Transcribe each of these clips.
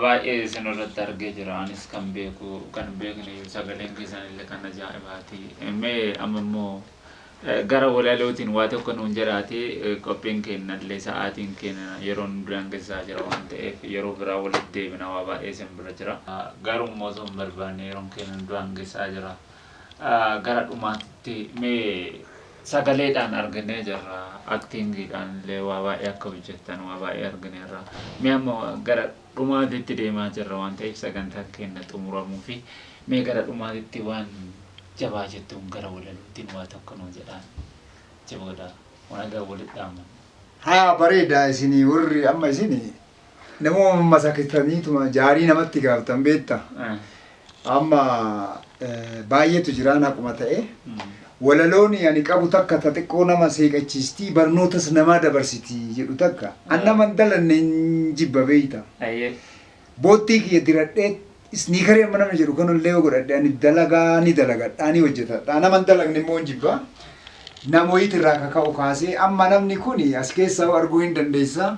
Baay'ee isin irratti argee jira anis kan beeku kan hin beekne iyyuu sagaleen keessan illee kan ajaa'ibaati mee amma immoo gara walalootiin waa tokko nuun jedhaati qophiin keenya illee sa'aatiin keenya yeroo nu daangessaa jira waan ta'eef yeroo biraa walitti deebina waa baay'ee isin bira jira garuu immoo osoo hin barbaanne yeroon keenya nu daangessaa jira gara dhumaatitti mee Sagaleedhaan arginee jirra, actingiidhaan illee waa baay'ee akka hojjettan waa baay'ee argineerra. Mee amma gara dhumaatitti deemaa jirra waan ta'eef sagantaan keenya xumuramuu fi mee gara dhumaatitti waan jabaa jettuun gara walalootiin waa tokko nuu jedhaan. Achi booda waan egaa walitti dhaamanna. Haa bareeda isinii warri amma isin Nama masakiftaniituma jaarii namatti gaaftan beekta. Amma baay'eetu jiraan haquma ta'e. Walaloon ani qabu takka ta xiqqoo nama seeqachiistii barnootas namaa dabarsiti jedhu takka. An nama hin dalanne hin jibba beekta. Boottii kiyya diradhee isniikarii amma namni jedhu kanallee yoo godhadhe ani dalagaa ni dalagadhaa ni hojjetadhaa nama hin dalagne immoo hin jibba. Namoyit irraa kaka'u kaasee amma namni kun as keessa arguu hin dandeessa.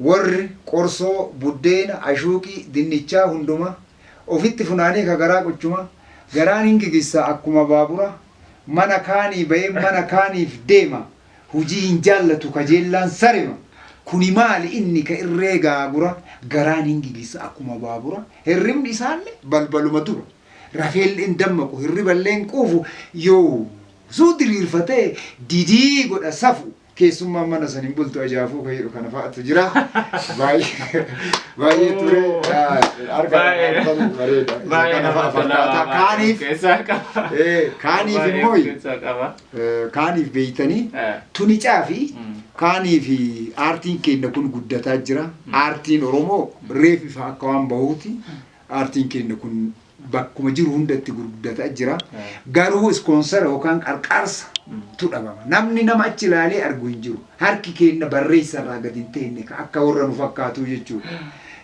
Worr qorsoo, buddeena, ashuuqii, dinnichaa hunduma ofitti funaanee ka garaa quchuma, garaan hin gigissa akkuma baabura, mana kaanii bayee mana kaaniif deema, hujii hin jaallatu kajeellaan sarema, kuni maali inni ka irree gaagura, garaan hin gigissa akkuma baabura, hirribni isaalle balbaluma dura, rafeelle hin dammaqu, hirriballe hin quufu, yoosuu diriirfatee didii godha safuu. keessummaan mana san hin bultu ajaafuu ka jedhu kana fa'atu jira. Baay'ee baay'ee ture. Arga bareeda. Kana fa'a fakkaata. Kaaniif kaaniif immoo kaaniif beeytanii tuni caafi kaanii fi aartiin keenya kun guddataa jira. Aartiin Oromoo reef ifa akka waan bahuuti. Aartiin keenya kun bakkuma jiru hundatti gurguddataa jira. Garuu ispoonsara yookaan qarqaarsa tu dhabama. Namni nama achi ilaalee argu hin jiru. Harki keenna barreessa irraa gad hin teenne ka akka warra nu fakkaatuu jechuu dha.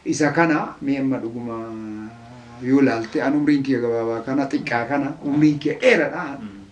Isa kana mee amma dhuguma yoo ilaalte an umriin kiyya gabaabaa kana xiqqaa kana umriin kiyya dheeradha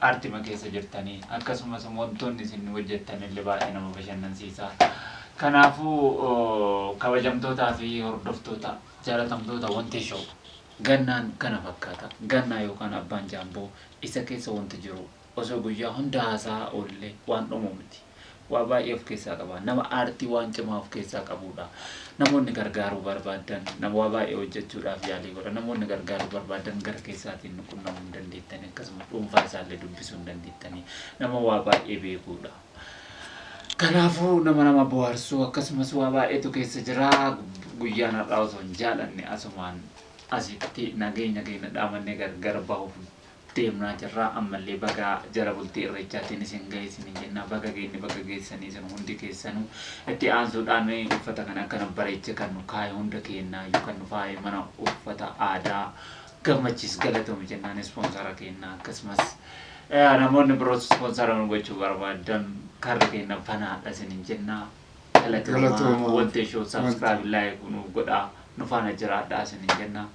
Aartima keessa jirtani. Akkasumas wantoonni isin hojjettanille baay'ee nama bashannansiisa. Kanaafuu kabajamtootaa fi hordoftoota jaalatamtoota Wantee Show gannaan kana fakkaata. Gannaa yookaan Abbaan Jaamboo isa keessa wanti jiru osoo guyyaa hunda haasa'aa oolle waan dhumu miti. Waa baay'ee of keessaa qaba. Nama aartii waan cimaa of keessaa qabuudha. Namoonni gargaaruu barbaadan nama waa baay'ee hojjechuudhaaf yaalii godha. Namoonni gargaaruu barbaadan gara keessaatiin nu qunnamuu hin dandeettani. Akkasuma dhuunfaa isaallee dubbisuu hin dandeettani. Nama waa baay'ee beekuudha. Kanaafuu nama nama bohaarsuu akkasumas waa baay'eetu keessa jira. Guyyaan har'aa osoo hin jaalanne asumaan asitti nageenya keenya dhaamannee gargar bahuuf deemnaa jirra ammallee baga jala bultii irreechaatiin isin gahe isiniin jenna baga geenye baga geessanii isin hundi keessanuu itti aansuudhaan uffata kan akka nu bareeche kan nu kaaye hunda keennaa iyyuu kan nu faaye mana uffata aadaa gammachiis galatoomi jennaan ispoonsara keennaa akkasumas eh, namoonni biroos ispoonsara nu gochuu barbaadan karri keenna banaadha isiniin jenna galatoomaa Galatoomaa. wantee shoo Wante. sabskiraayib laayik nuuf godhaa nu faana jiraadhaa isiniin jenna